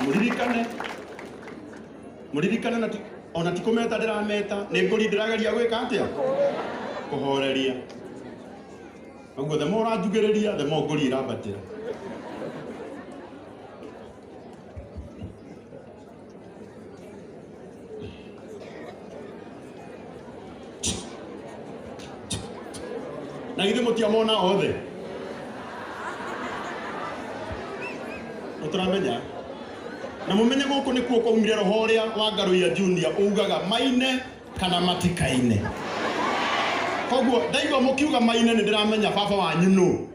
mũririkane mũririkane na ti- ona ti kũmeta ndĩrameta nĩ ngũri ndĩrageria gwĩka atĩa kũhoreria ũguo themo ũranjugĩrĩria themo ngũri ĩrambatĩra na ithe mũtiamona othe ũtaramenya na mũmenye gũkũ nĩkuo kwaumire roho ũrĩa wa ngarũ ya junior ũgaga maine kana matikaine koguo ndaigua mukiuga maine ni ndiramenya baba wanyu nu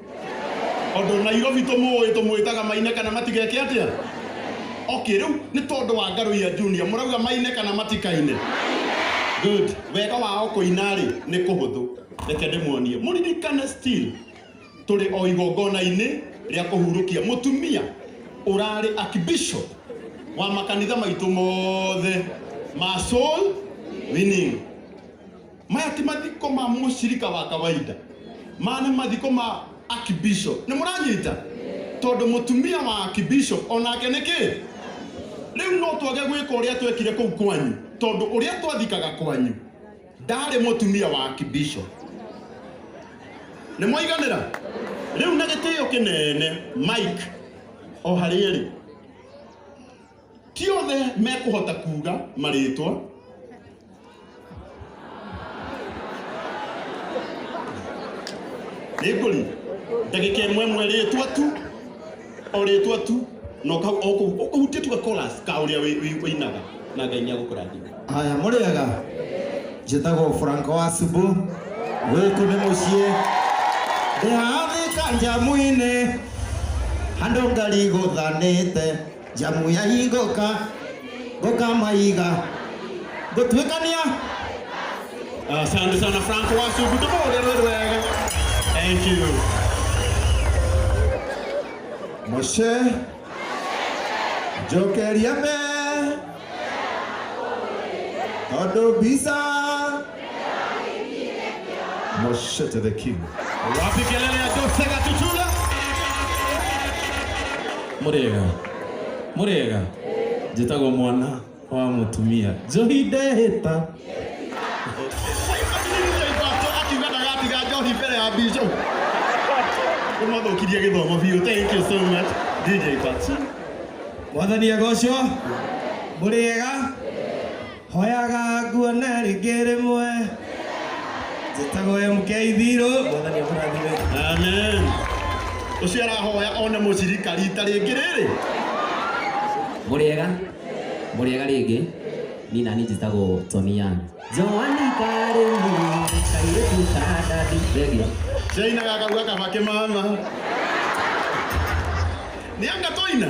ondu nairobi tumuwi tumwitaga maine kana matigeke atia okay riu ni tondu wa ngaruia junior murauga maine kana matikaine good wega wao kuina ri ni kuhuthu reke ndimuonie muririkane still tũrĩ o igongona-inĩ rĩa kũhurũkia mũtumia ũrarĩ archbishop wa makanitha maitũ mothe ma soul winning maya ti mathiko ma mũcirika wa kawaida maya nĩ mathiko ma archbishop nĩ mũranyita tondũ mũtumia wa archbishop onake nĩ kĩ rĩu no twage gwĩka ũrĩa twekire kũu kwanyu tondũ ũrĩa twathikaga kwanyu ndarĩ mũtumia wa kibisho nĩ mwaiganĩra rĩu na gĩtĩo kĩnene mike o harĩa ĩrĩ ti othe mekũhota kuga marĩtwa nĩngũri ndagĩka ĩmwe ĩmwe rĩtwa tu o rĩtwa tu na ũka- o kũu- o kũu ũtĩtua chorus ka ũrĩa wĩ- wĩ- wĩinaga na ngai nĩ agũkũrathima haya mũrĩega njĩtagwo franco wa subu gũkũ nĩ mũciĩ ndĩhathĩka njamu-inĩ handũ ngari gũthanĩte njamu ya hingũka Ngokamaiga. Ngotuĩkania. Asante sana Frank Wasugu, tũmũhũrĩrwo wega. Thank you. Moshe. Njokeria me. Tondũ visa. Moshete the king. Wapi kelele ya Jose Katuchula? Murega. Murega. Jitagwo mwana wa mutumia. Johi ndehĩta. Akiuga ndagatiga njohi mbere ya bishop. Ũmathũkirie gĩthomo biũ. Thank you so much. DJ Patsy. Mwathani agocwo. Murega. hoyaga nguone rĩngĩ rĩmwe njĩtagwo MK Thirũ mwathani amũrathime amen ũcio arahoya one mũcirika rita rĩngĩ rĩrĩ mũrĩega mũrĩega rĩngĩ ni nani njĩtagwo Tony Young Joani karĩ niĩ kairĩtu ka ndandi thengio ndainaga kauga kaba kĩmama nĩ anga twaina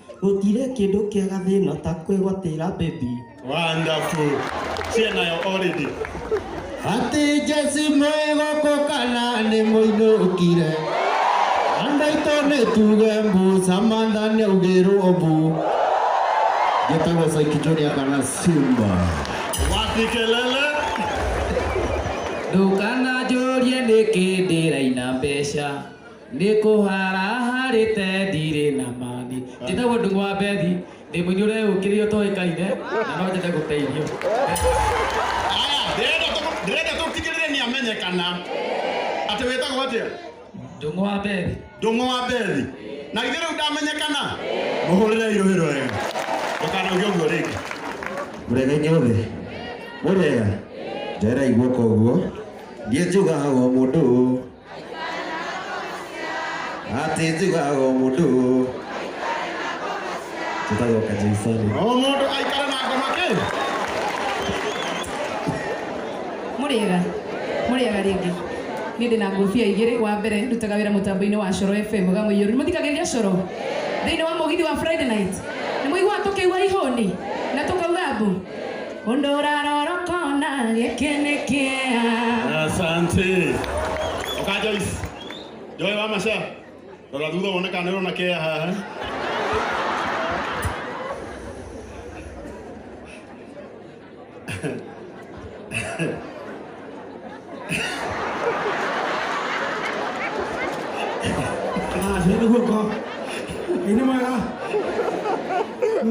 Gũtirĩ kĩndũ kĩega thĩna ta kwĩgwatĩra baby. Wonderful. Cia nayo already. Ati Jesse mwĩgoko kana nĩ mũinũkire Andũ aitũ nĩ tuge mbu Samantha nĩ augĩrwo mbu Gĩtagwo Saiki Junior kana Simba Wapi kelele? Ndũkananjũrie nĩkĩ ndĩraina mbeca nĩ kũhara harĩ te ndirĩ na mani njĩtagwo ndung'wa bethi ndĩ mũnyũre ũkĩrĩ ũtoĩkaine na no njĩte gũteithio Aya, ndĩrenda tũ- ndĩrenda tũtigĩrĩre nĩ amenyekana atĩ wĩtagwo atĩa ndung'wa bethi ndũng'ũ wa bethi na ithe rĩu ndamenyekana mũhũrĩre irũhĩro ĩyo ndũkanauge ũguo rĩngĩ mũrega inyuothe mũrega ndĩraigua koguo ndiĩ njugaga o mũndũ ati njugaga o mundu njĩtagwo kajaisoni o mũndũ aikare na ngoma kĩ mũrĩega mũrĩega rĩngĩ niĩ ndĩ na ngũbia igĩrĩ wa mbere ndutaga wĩra mũtambo-inĩ wa coro fm gamũiyũru nĩmũthikagĩrĩria coro thĩinĩ wa mũgithi wa friday night nĩmũiguaga tũkĩigua ihũni na tũkauga mbu Ũndũ ũrarora ũkona gĩkĩ nĩ kĩeha. Asante. Oka Joyce. Joy wa Masha. Rora thutha wone kana nĩũrona kea haha. Ah, nĩ guoko. Nĩ mwega.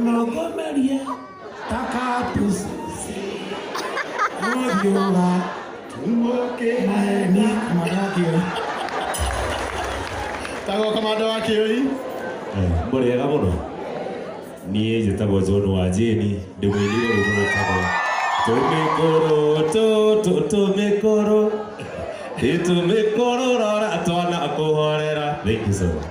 Nokomerie. tagwo kamanda wa kĩoi mũrĩega mũno niĩ njĩtagwo john wa jeni ndĩ mwĩnire rĩu mũrĩtagwo tũmĩkũrũ tũtũ tũmĩkũrũ ĩtũmĩkũrũ rora twana kũhorera thank you so much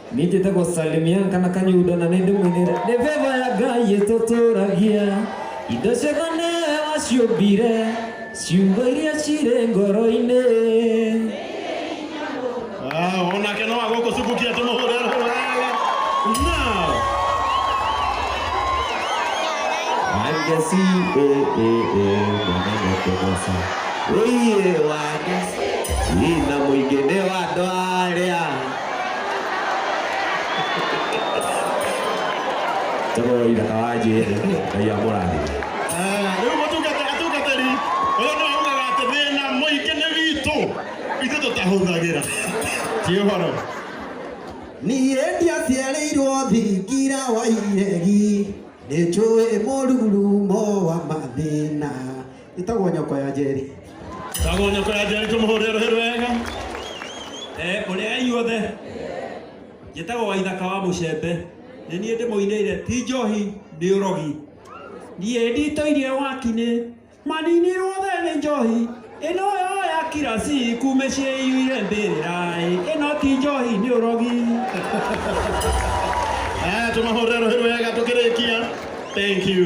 Nĩnjĩte gũsalimia kana kanyundo na nĩndĩmwinĩre nĩ beba ya ngai ĩtũtũragia indo ciothe nĩwe waciũmbire ciugo iria cirĩ ngoro-inĩ Ah, onake no agũkũcukukia tũmũhũre rũhũra wega. Now. wangeci mwananekegwasa ũiĩ wangeci ina mũingĩ nĩ wa andũ arĩa Tũgũrũ ithaka wa njĩrĩ, Ngai amũrathime. Rĩu mũtungata atungatĩri ũyũ nĩ augaga atĩ thĩna mũingĩ nĩ witũ itũ tũtahũthagĩra ti ũhoro niĩ ndiaciarĩirwo thingira wa iregi nĩ njũĩ mũrurumo wa mathĩna ĩtagwo nyoko ya njeri tagwo nyoko ya njeri tũmũhũrĩre rũhĩ rwega Eh, ũrĩa ya inyuothe njĩtagwo waithaka wa mũcembe nĩ niĩ ndĩmũinĩire ti njohi nĩ ũrogi niĩ nditoirie wakinĩ maninirwo othe nĩ njohi ĩno yo ya kirasi kume ciĩiyũire mbĩrĩrai ĩno ti njohi nĩ ũrogi Eh, tũmahũrĩre rũhĩ rwega tũkĩrĩkia thank you